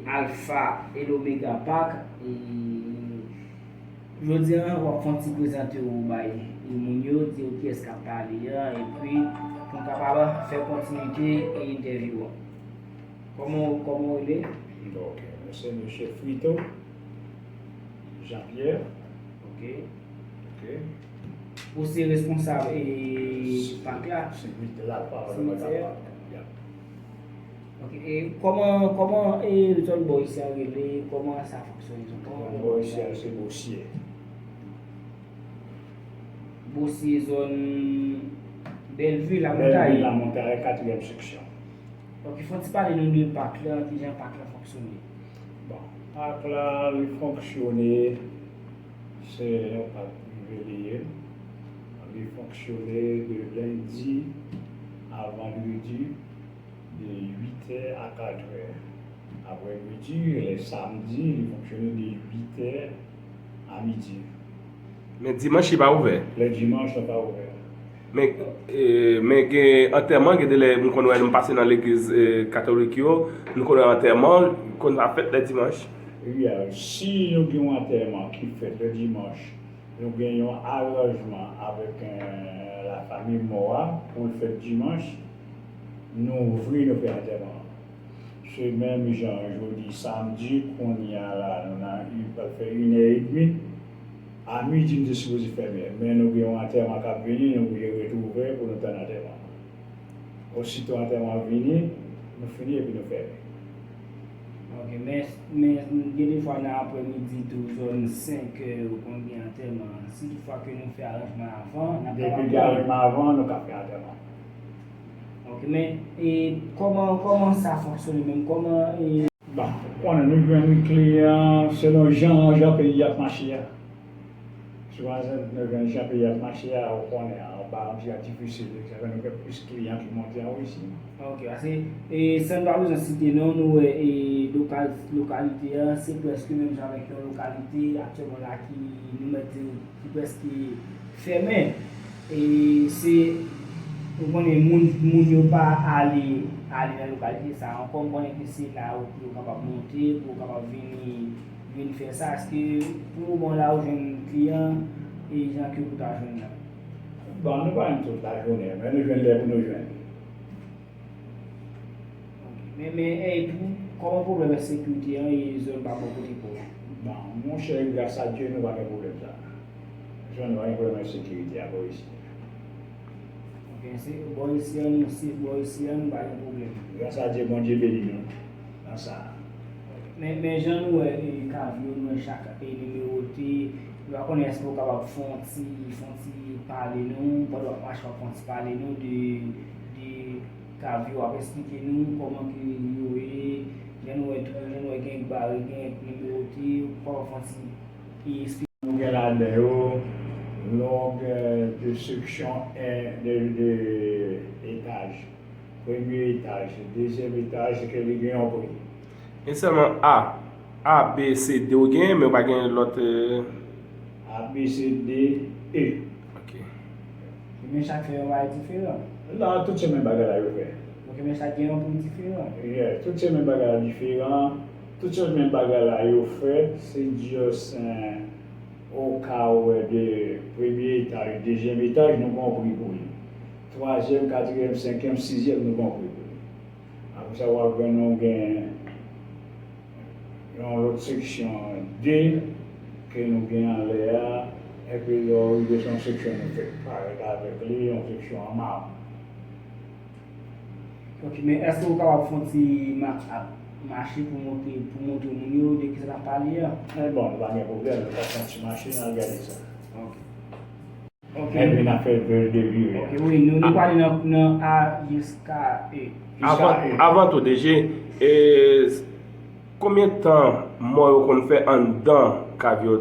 Alfa et l'omega pac e Jodi an wap fon ti prezante ou bay moun yo di yo kiyès kap pale an epi poun kapab fè kontinite entèvyou an Kòman ou kòman ou rele? Ok mwen se mesye Frito Jean Pierre Ok Ok Ou se responsab e pac la? Simitye la Alfa et l'omega pac Yap. Ok e koman koman e zòn bò isi an rele koman sa fonksyone zòn bò isi an. Bò isi an se bosye. Bosye zòn bèlvi lamontay. Bèlvi lamontay katriyèm seksyon. Ok fon ti pale nou de pak la kijan pak la fonksyone. Bon pak la li fonksyone se yon pak prive li ye li fonksyone de lendi a vandredi. de 8 è a 4 è aprè midi, lè samdi li fonksyone de 8 è a midi. Men dimanch li pa ouvè? Lè dimanch la pa ouvè. Men men gen antèman gen de lè m konn wè m pase nan legliz katolik yo, m konn wè antèman konn ap fèt lè dimanch. Ebyen si nou gen yon antèman ki fèt lè dimanch, nou gen yon aranjman avèk lafanmi mò a pou l fèt dimanch. Nou ouvri nou fè antèman an. Se menm jan jodi samdi kounya la nou nan u pral fè inè edmi. A midi nou te sipoze fèmen men nou gen yon antèman kap vini nou oblije ret ouvè pou nou tann antèman an. Osito antèman an vini nou fini epi nou fèmen. Ok men gen defwa nan aprè midi tou zòn 5 è yo konn gen antèman si tout fwa ke nou fè aranjman avan nap kapab pran. Depi gen aranjman avan nou ka fè antèman. Ok men e koman koman sa fonksyone menm koman e. Bon ou konnen nou jwenn kle an selon jan jan peyi ap mache a sou bazè nou jwenn jan peyi ap mache a ou konnen anba yon ti atifisye de sa fè nou gen plis kliyan ki monte an Russie. Ok pase e san pa bezwen site non nou wè e lokal lokalite an se prèske menm jan avèk yon lokalite aktyèlman la ki nou mèt di ki prèske fèmen. E se Ou konnen moun moun yo pa ale ale nan lokalite sa a ankò, m konnen ke se la ou pou yo kapab monte, pou yo kapab vini vin fè sa, èske pou moman w la ou jwenn kliyan e jan ke ou ta jwenn nan? Bon nou pa jwenn tout lajounen, men nou jwenn lè pou nou jwenn. Ok, men e pou kòman pwoblèm ensekirite an e zòn pa bò kote pa w? Bon monchè gras a Dye nou pa gen pwoblèm sa a. Jwenn yon enprenè nan sekirite a Borisy. Ok se Borisy an nou swiv Borisy an nou pa gen pwoblèm. Gras a Dye Bondye beni nou nan sa a. Men men jan nou wè kav yo nou wè chak e nimewote nou pa konnen èske ou kapab fè yon ti fè yon ti pale nou pandan wap mache wap fè yon ti pale nou de de kav yo wap esplike nou kòman ke yo ye jan nou wè jan nou wè gen bare gen nimewote ou kapab fè yon ti ki si nou gen ladan yo longue de section de etage premye etaj dezyèm etaj e ke li gen yon pri. E sèlman A, A, B, C, D ou genyen men ou pa genyen lòt e. A, B, C, D, E. Ok. Ok men chak fè yon bagay diferan. Non tout se menm bagay la yo fè. Ok men chak gen yon pri diferan. Yes tout se menm bagay la diferan. Tout se menm bagay la yo fè se diyosen ou ka wè de premye etaj dezyèm etaj nou gon pri pou li twazyèm katriyèm senkyèm sizyèm nou gon pri pou li apre sa wap jwenn nou gen yon lòt seksyon de ke nou gen anlè a epi lè ou rive se yon seksyon nou fèk parèt avèk li yon seksyon an mab. Ok men eske ou kapab fon ti match ap mache pou montre pou montre moun yo de kisa nap pale an. An bon li pa gen pwoblèm nou ka fon ti mache nan al gade sa. Ok. Ok. Nèg vin ap fè bel delire. Ok wi nou nou pwale nan nan a jiska e. Avan avan tou DG ee konbyen tan mò yo konn fè anndan kav yo?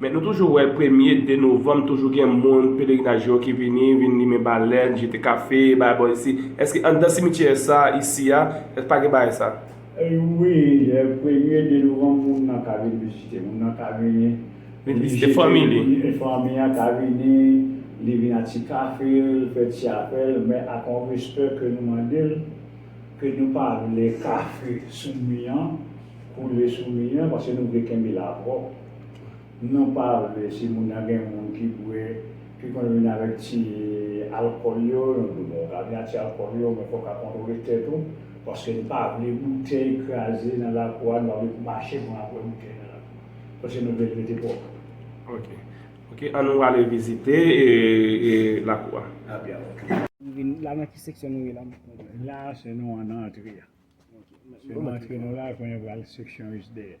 Men nou toujou wè premye 2 novanm toujou gen moun pelerinaj yo ki vini, vin limen balèn, jete kafe, bay bò isi. Eske anndan simityè sa isi a, èske pa gen bagay sa? Wi, lè premye 2 novanm moun nan ka vin vizite, moun nan ka vini, Vin vizite fanmi li. fanmi an ka vini, li vin ak ti kafe l, fè ti afè l, men ak yon respè ke nou mande l, ke nou pa vle kafe sou mi an, koule sou mi an, paske nou vle kenbe la pwòp. Non pa vre si moun nan gen moun ki bwè ki konn vin avèk ti alkòl yo yon dlo bon ou ka vin ak ti alkòl yo men fòw ka kontwole tèt ou paske n pa vle boutèy kraze nan lakou a n pa vle pou mache konn ap wè boutèy nan lakou paske nou vle l rete pwòp. Ok ok an nou ale vizite lakou a. A byen ok. La nan ki seksyon nou ye la mèt mwen. La se nou an nan antre a se nan antre nou la kounye pral seksyon jis dèyè.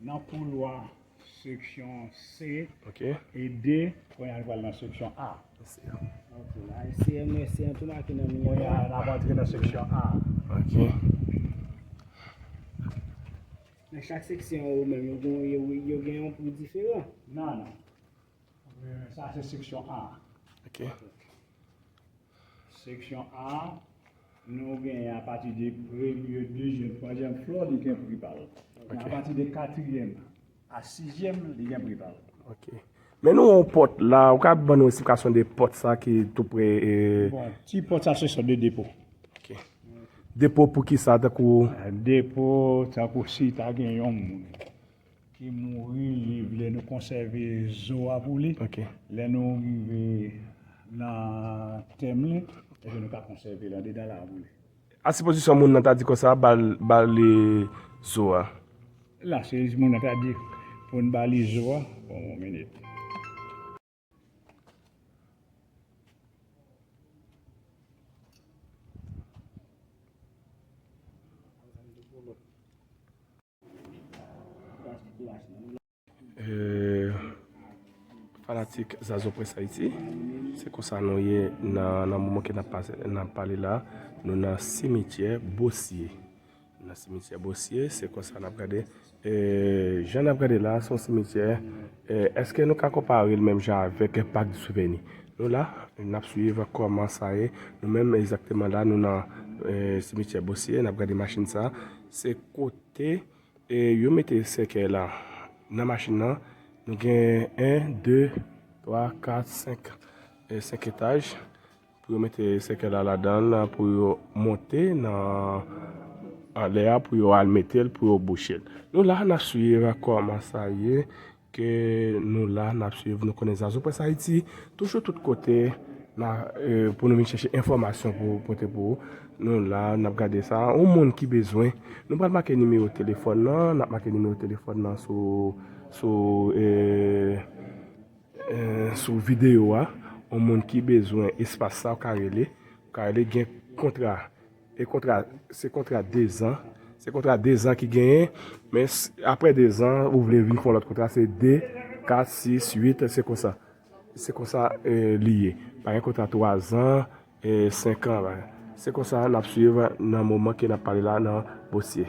Nan koulwa seksyon C e D. Kounye a nou pral nan seksyon A. Ok la e C M e C an tou make nan miye. Kounye a n ap antre nan seksyon A. Ok. Nan chak seksyon yo menm yo gen yon pri diferan? Non. Sa se seksyon A. Ok. Seksyon A, nou gen a pati de premye, dezyèm, twazyèm flò li gen pri pa l. Ok. A pati de katriyèm a sizyèm li gen pri pa l. Ok. Men nou wè yon pòt la, ou ka ban nou esplikasyon de pòt sa ki tou pre e... Bon, ti pòt sa se sòt de depo. Ok. Depo pou ki sa tankou... Depo tankou si ta gen yon moun ki mouri li vle nou konsève zo a pou li lè nou rive nan tèm li epi nou ka konsève l andedan la pou li. A sipozisyon moun nan ta di konsa ba li zo a. La sipozisyon moun nan ta di pou n ba li zo a bon yon minit. Fanatik Zazo Press Haiti Se konsa nou ye nan moman ke nap pale la Nou nan simityè Bosye Nan simityè bosye se konsa nap gade jan nap gade la son simityè eske nou ka konparel menm jan avek pak di souveni nou la nap swiv koman sa ye nou menm egzakteman la nou nan simityè bosye nap gade machin sa se kote yo mete sèkèy la nan machin nan nou gen 1 2 3 4 5 5 etaj Pou yo mete sèkèy la ladan l pou yo monte nan anlè a pou yo al mete l pou yo bouche l. Nou la nap swiv kòman sa ye ke nou la nap swiv nou konnen ZazoPressHaiti toujou tout kote nan pou nou vin chèche enfòmasyon pou pote pou ou. Nou la nap gade sa ou moun ki bezwen nou pral make nimewo telefòn nan nap make nimewo telefòn nan sou sou e. Sou video wa yon moun ki bezwen espas sa ou ka rele ou ka rele gen kontra e kontra se kontra 2 zan se kontra 2 zan ki genyen men aprè 2 zan ou vle vin fon lòt kontra se 2 4 6 8 se konsa se konsa li ye pa gen kontra 3 zan e 5 an se konsa nap swiv nan moman ke nap pale la nan bosye.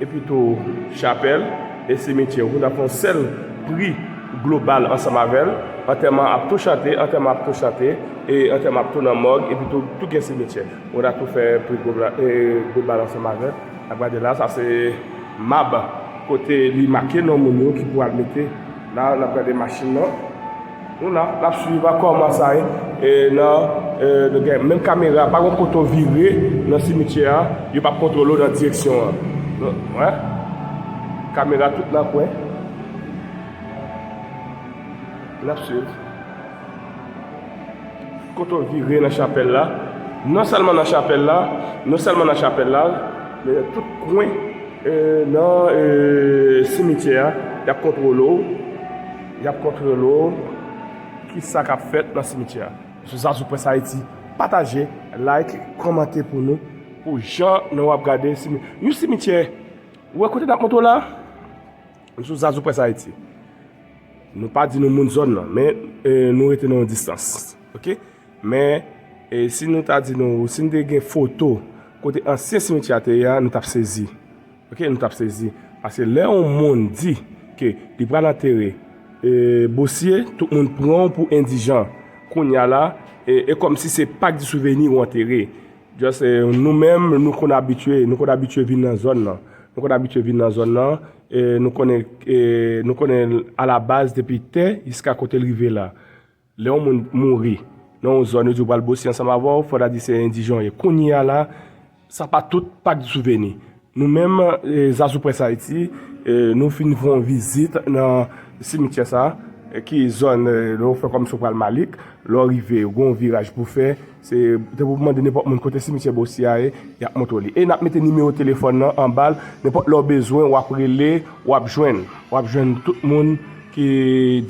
epi tou chapèl e simityè ou nan yon sèl pri global ansanm avè l, antèman ap tou chante, antèman ap tou chante, e antèman ap tou nan mòg epi tou tou gen simityè ou nan tou fè pri global ansanm avè l, n ap gade la sa se mab kote li make non moun yo ki pou al mete la, n ap gade machin nan. Nou la nap swiv a kòman sa ye nan nou gen menm kamera pa gon kote ou vire nan simityè a yo pap kontwole w nan direksyon an nou wè kamera tout nan kwen nap swiv kote ou vire nan chapèl la non sèlman nan chapèl la non sèlman nan chapèl la men nan tout kwen nan simityè a yap kontwole w Y ap kontwole w Ki sa k ap fèt nan simityè a? Sou sa sou Press Haiti pataje like kòmante pou nou pou jan nou ap gade yon simityè ou wè kote n ap montre w la sou sa sou Press Haiti nou pa di nou moun zòn nan men nou rete nan yon distans ok men si nou ta di nou si nou te gen foto kote ansyen simityè a te ye a nou t ap sezi. Ok nou tap sezi paske lè yon moun di ke li pral antere bosye tout moun pranw pou endijan kounya la e kòmsi se pak di souveni ou antere just nou menm nou konn abitye nou konn abitye vin nan zòn nan nou konn abitye vin nan zòn nan nou konnen nou konnen alabaz depi tè jiska kotel rive la. Lè yon moun mouri nan yon zòn yo di yo pral bosye ansanm avè w, fò ta di se endijan w ye. Kounye a la, sa pa tout, pa gen souveni. Nou menm, Zazu Press Haiti, nou fin fè yon vizit nan simityè sa a, ki zòn lè w fè kòmsi w pral Malik, lè w rive gen yon viraj pou w fè. Se te pou mande nenpòt moun kote simityè Bossy a ye, y ap montre w li. E n ap mete nimewo telefòn nan anba l, nenpòt lè w bezwen w ap rele, w ap jwenn. W ap jwenn tout moun ki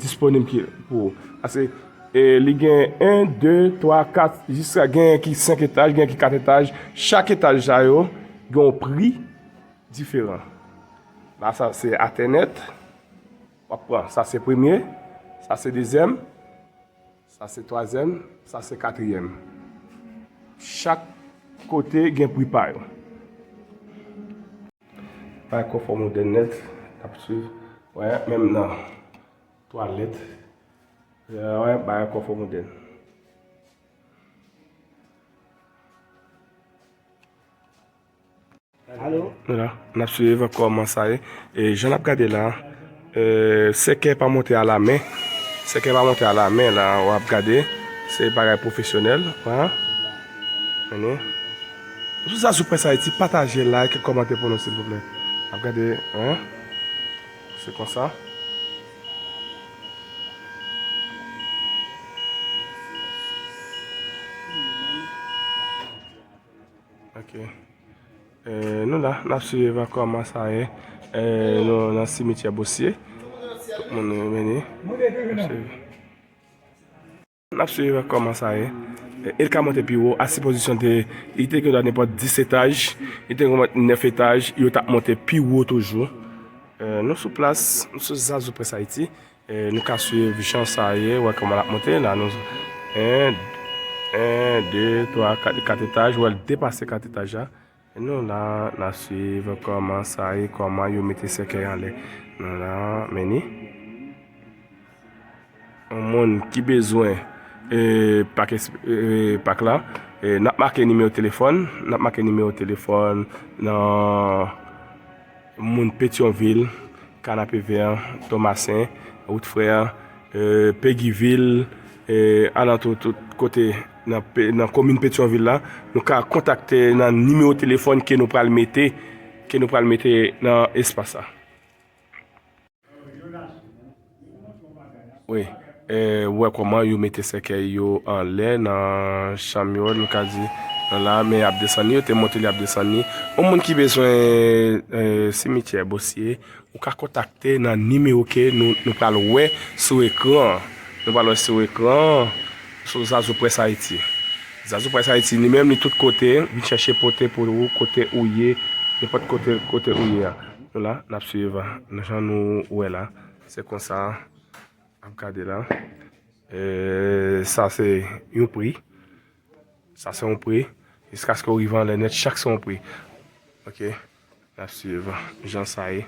disponib ki pou ou. Pase li gen 1, 2, 3, 4, jiska genyen ki 5 etaj, genyen ki 4 etaj. Chak etaj sa yo gen yon pri diferan. La sa se atènèt, w ap pran. Sa se premye, sa se dezyèm. Sa se twazyèm, sa se katriyèm. Chak kote gen pri pa yo. Bay konfò modèn nèt, n ap swiv. Wè, menm nan twalèt, wè, bay konfò modèn. Wala, n ap swiv kòman sa ye. E jan n ap gade la, sèkè pa monte a la men. Sèkè pa monte a la men la, w ap gade. Se bagay pwofesyonèl. Sou sa sou Presse Haïti, pataje, like, kòmante pou nou silvouplè. N ap gade. Se konsa. Ok Nou la nap swiv evakouaman sa ye Nou nan simityè bosye Tout moun nou vini Nap swiv evakouaman sa ye El ka monte pi wo a si pozisyon te Li te gen nenpòt 10 etaj Li te gen nenpòt 9 etaj Yo tap monte pi wo toujou Nou sou plas Nou sou zazou près ayiti Nou ka swiv jan sa ye, wè kòman lap monte la nou 1 2 3 4 4 etaj wèl depase 4 etaj la nou la na swiv kòman sa ye kòman yo mete sèkèy anlè nou la meni yon moun ki bezwen pak pak la nap make nimewo telefòn nap make nimewo telefòn nan Moun Petyonvil, Kanapevè, Tomasen, Wout Frè, Pegivil, alantou tout kote nan komin Petyonvil la, nou ka kontakte nan nimewo telefòn ke nou pral mete nan espas la. Wi ou wè kòman yo mete sèkèy yo anlè nan chanm yo nou ka di nan la men y ap desann li yo te monte li ap desann li yon moun ki bezwen simityè bosye ou ka kontakte nan nimewo ke nou pral wè sou ekran an nou pral wè sou ekran an sou zazou près ayiti zazou près ayiti li menm li tout kote vin chèche pote pou ou kote ou ye nenpòt kote ou ye a. Nou la nap swiv jan nou wè la se konsa ap gade la sa se yon pri sa se yon pri jiskaske ou rive anlè nèt chak se yon pri ok nap swiv jan sa ye.